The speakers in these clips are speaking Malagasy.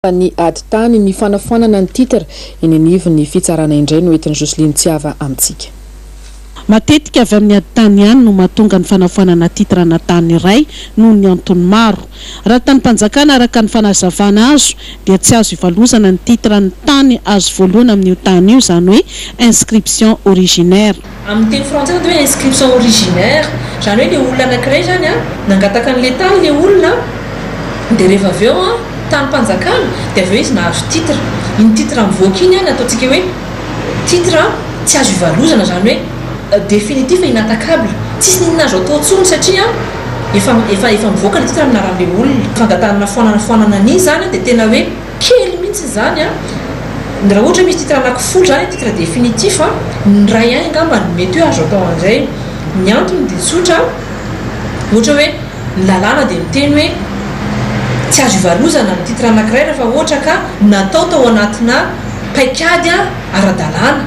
Fa ny ady tany, ny fanafoanana ny titre eny anivon'ny fitsarana indray no entin'i Jocelyne tsy hava amintsika. Matetika avy amin'ny ady tany ihany no mahatonga ny fanafoanana titre ana tany iray noho ny antony maro. Raha ny tanim-panjakana araka ny fanazavana azo dia tsy azo ivalozana ny titre an'ny tany azo voalohany amin'io tany io, izany hoe inscription originaire. Amin'ny teny frantsay izany dia hoe inscription originaire, izany hoe ilay olona anankiray izany an, nangataka an'ilay tany ilay olona an, dia rehefa avy eo an, tanim-panjakana, dia avy eo izy nahazo titre, iny titre mivoaka iny an no ataontsika hoe titre tsy azo ivalozana, izany hoe définitif et inattaquable, tsisy n'inona azo atao intsony satria an, efa efa efa mivoaka ilay titre amin'ny anaran'ilay olona, fangatahana foanana foanana an'iny izany an dia tena hoe. Kely mihitsy izany an! Ny raha ohatra misy titre anaky folo izany ny titre définitif an! ny ray an angamba no mety hoe azo atao an'izay. Ny antony dia tsotra, ohatra hoe ny lalàna dia miteny hoe tsy azo ivalozana ny titre anakiray rafa ohatra ka natao tao anatina paikady ara-dalàna,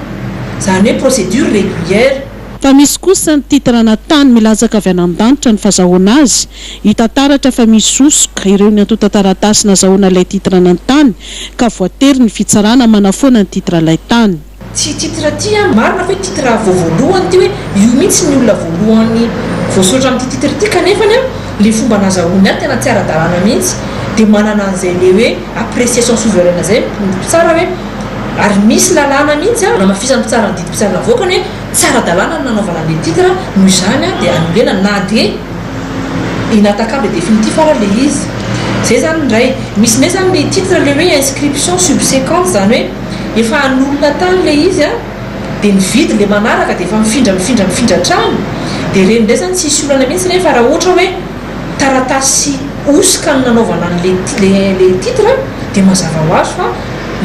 izany hoe procédure régulière. Fa misy kosa ny titre ana tany milatsaka avy any an-danitra ny fazahoana azy Hita taratra fa misy sosoka ireo ny antontan-taratasy nazahoana ilay titre an'Antany ka voatery ny fitsarana manafoana ny titre ilay tany. Tsy titre ity an, marina fa hoe titre vao voalohany ity hoe io mihitsy ny olona voalohany voasoratra amin'ity titre ity kanefany an le fomba nazahoany azy tena tsy ara-dalàna mihitsy dia manana an'izay le hoe appréciation souveraine zay ny mpitsara hoe ary misy lalàna mihitsy an, namafisan'ny mpitsara ny didim-pitsarana avoakany hoe. Tsy ara-dalàna ny nanaovana an'le titre noho izany dia hanolorena na dia inattaquable définitif ara le izy. Zay zany ny iray. Misy indray zany le titre le hoe inscription subsequente zany hoe efa hanolona tany le izy a, dia nividy le manaraka dia efa mifindra mifindra mifindra hatrany, dia ireny indray zany tsisy olana mihitsy nefa raha ohatra hoe. taratasy hosoka no nanaovana an' ilay titre dia mazava ho azy fa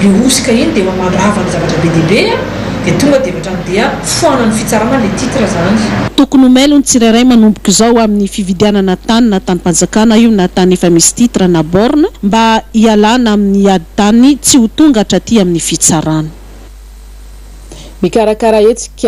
ilay hosoka iny dia efa mandrava ny zavatra be dia be dia tonga dia ohatrany dia foanan' ny fitsarana ilay titre izany. Tokony ho mailo ny tsirairay manomboka izao amin' ny fividianana tany na tanim-panjakana io na tany efa misy titre na borne mba hialana amin' ny ady tany tsy ho tonga hatraty amin' ny fitsarana. Mikarakara hetsika